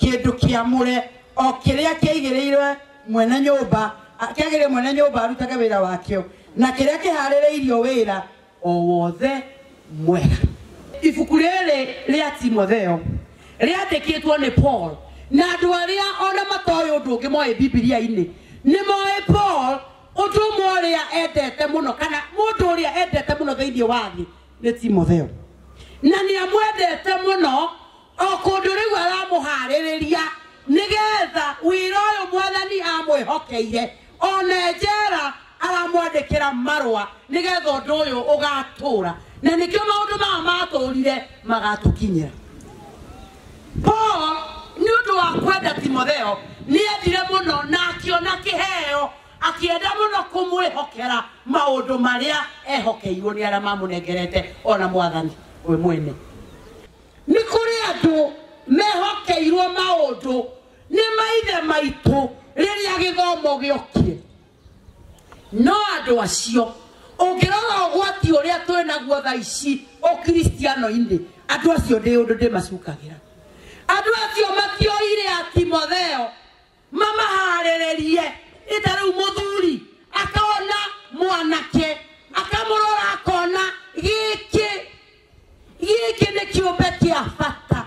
kĩndũ kĩamũre o kĩrĩa kĩaigĩrĩirwe mwene nyũmba kĩagĩrĩire mwene nyũmba arutage wĩra wakĩo na kĩrĩa kĩharĩrĩirio wĩra o wothe mwega ibuku rĩrĩ rĩa timotheo rĩandĩkĩtwo nĩ paul na andũ arĩa ona matoĩ ũndũ ũngĩ moĩ bibilia-inĩ nĩ moĩ paul ũndũ ũmwe ũrĩa endete mũno kana mũndũ ũrĩa endete mũno thĩinĩ wa thĩ nĩ timotheo na nĩ amwendete mũno O kũndũ rĩu aramũhaarĩrĩria nĩ getha wĩra ũyũ Mwathani amwĩhokeire. O na e njera aramwandĩkĩra marũa nĩ getha ũndũ ũyũ ũgatũũra. Na nĩkĩo maũndũ maya matũũrire magatũkinyĩra. Paul nĩ ũndũ wa kwenda Timotheo nĩ endire mũno na akĩona kĩheo akĩenda mũno kũmwĩhokera maũndũ marĩa ehokeirwo nĩ arĩa mamũnengerete o na Mwathani we mwene. nĩ kũrĩ andũ mehokeirwo maũndũ nĩ maithe maitũ rĩrĩa gĩthomo gĩokie no andũ acio ũngĩrora ũgwati ũrĩa twĩ naguo tha ici ũkristiano-inĩ andũ acio ndĩ ũndũ ndĩmacukagĩra andũ acio matioire a timotheo mamaharĩrĩrie ĩta rĩu mũthuri akona mwanake akamũrora akona gĩkĩ gĩkĩ nĩ kĩũmbe kĩa bata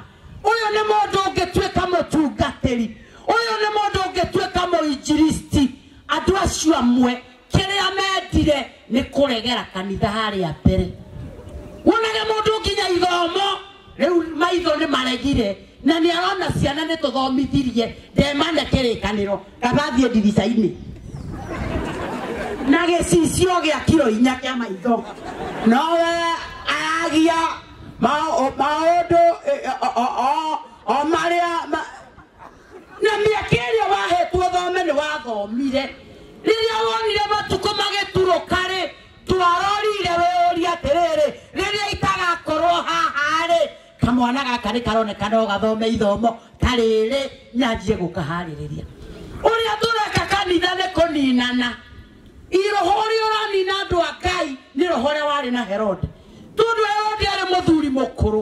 ũyũ nĩ mũndũ ũngĩtuĩka mũtungatĩri ũyũ nĩ mũndũ ũngĩtuĩka mũinjiristi andũ acio amwe kĩrĩa mendire nĩ kũregera kanitha harĩa mbere wonage mũndũ nginya ithomo rĩu maitho nĩ maregire na nĩ arona ciana nĩ tũthomithirie ndemane kĩrĩkanĩro gathathiĩ ndirica-inĩ na gĩcicio gĩa kiro inya kĩa maitho nowe aragia maũndũ o marĩa na mĩaka ĩrĩa wahetwo thome nĩ wathomire rĩrĩa wonire matukũ magĩturũka rĩ twarorire wĩũria atĩrĩrĩ rĩrĩa itagakorwo haha rĩ kamwana gaka nĩ karoneka no gathome ithomo ta rĩrĩ nyanjie gũkaharĩrĩria ũrĩa tũreka kanitha nĩ kũninana iroho ũrĩa ũranina andũ a ngai nĩ roho ũrĩa warĩ na herode tondũ herode arĩ mũthuri mũkũrũ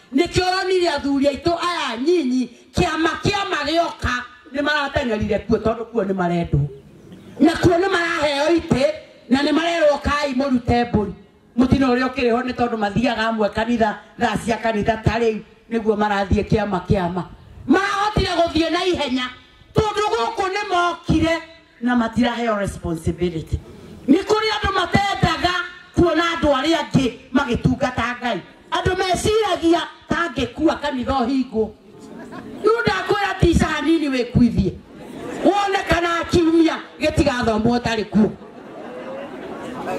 Nĩkĩo ũronire athuri aitũ aya anyinyi kĩama kĩama gĩoka nĩ marateng'erire kuo tondũ kuo nĩ marendwo na kuo nĩ maraheo itĩ na nĩ marerwo kai mũrute mbũri mũtino ũrĩa ũkĩrĩ ho nĩ tondũ mathiaga amwe kanitha thaa cia kanitha ta rĩu nĩguo marathiĩ kĩama kĩama marahotire gũthiĩ na ihenya tondũ gũkũ nĩ mokire na matiraheo responsibility nĩ kũrĩ andũ matendaga kuona andũ arĩa angĩ magĩtungata ngai andũ meciragia tangĩkua kanitha ũhingwo rĩu ndakwĩra tica hanini wĩkuithie wone kana kiumia gĩtigathomwo ũtarĩ kuo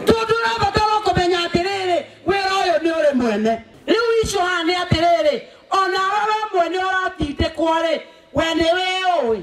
tondũ ũrabatara kũmenya atĩrĩrĩ wĩra ũyũ nĩ ũrĩ mwene rĩu icio haha nĩ atĩrĩrĩ ona we we mwene ũratindĩkwo rĩ we nĩ wĩũĩ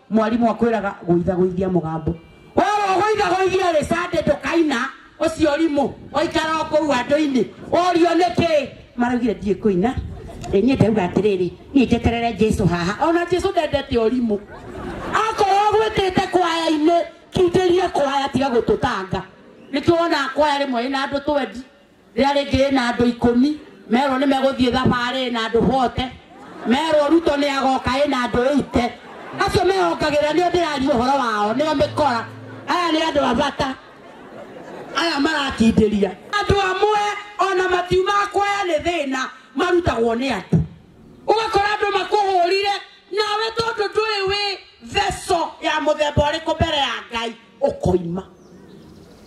mwarimũ akwĩraga gũithagũithia mũgambo oro gũithagũithia rĩ sande ndũkaina ũcio rimũ waikara o kũu andũ-inĩ ũrio nĩkĩ maraugire ndiĩ kũina Ĩ, niĩ ndauga atĩrĩrĩ niĩ njeterere jesu haha ona jesu ndendete ũrimũ akorwo gwĩtĩte kwaya-inĩ kindĩria kwaya tiga gũtũtanga nĩkĩo wonaga kwaya rĩmwe ĩna andũ twendi Rĩrĩa rĩngĩ ĩna andũ ikũmi, merwo nĩ megũthiĩ thabarĩ ĩna andũ bote, merwo Ruto nĩ agoka ĩna andũ ĩite. Acio mehongagĩrĩra nĩo ndĩraria ũhoro wao, nĩo mĩkora. Aya nĩ andũ a bata, aya maratindĩria. Andũ amwe ona matiuma kwaya nĩ thĩna, marutagwo nĩ andũ. Ũgakora andũ makũhũrire, nawe tondũ ndũrĩ wĩ vessel ya mũthemba ũrĩkũ mbere ya Ngai, ukoima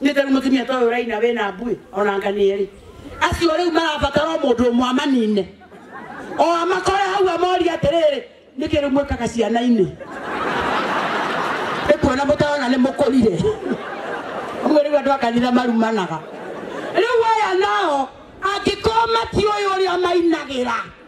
nitari mutumia toyo raina wena mbui onanga niri acio riu marabatara mundu umwe amanine o amakore hau amori atiriri niki riu mwikaga ciana-ini ikuona mutarona ni mukurire uguo riu andu akanitha marumanaga riu aya nao angĩkorwo matiũĩ ũrĩa mainagira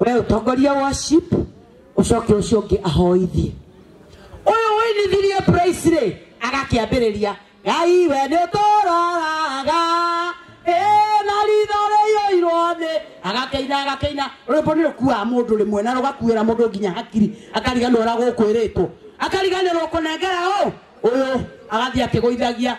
we utongoria worship ucoke ucio ungi ahoithie uyu winithirie praise ri agakiambiriria ngai we ni uturaga na ritho riyoirwo ni agakeina agakeina rwimbo ni rukuaga mundu rimwe na rugakuira mundu nginya hakiri akariganirwo uria gukwiritwo akariganirwo kunengera u uyu agathii akigwithagia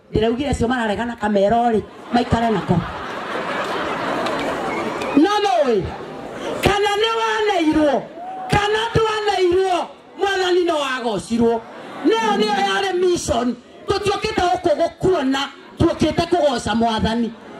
ndĩraugire acio mararegana kamero-rĩ maikare nako no nũĩ kana nĩ waneirwo kana ndwaneirwo mwathani no wagocirwo nĩyo nĩyo yarĩ mission tũtiũkĩte gũkũ gũkuona tuũkĩte kũgoca mwathani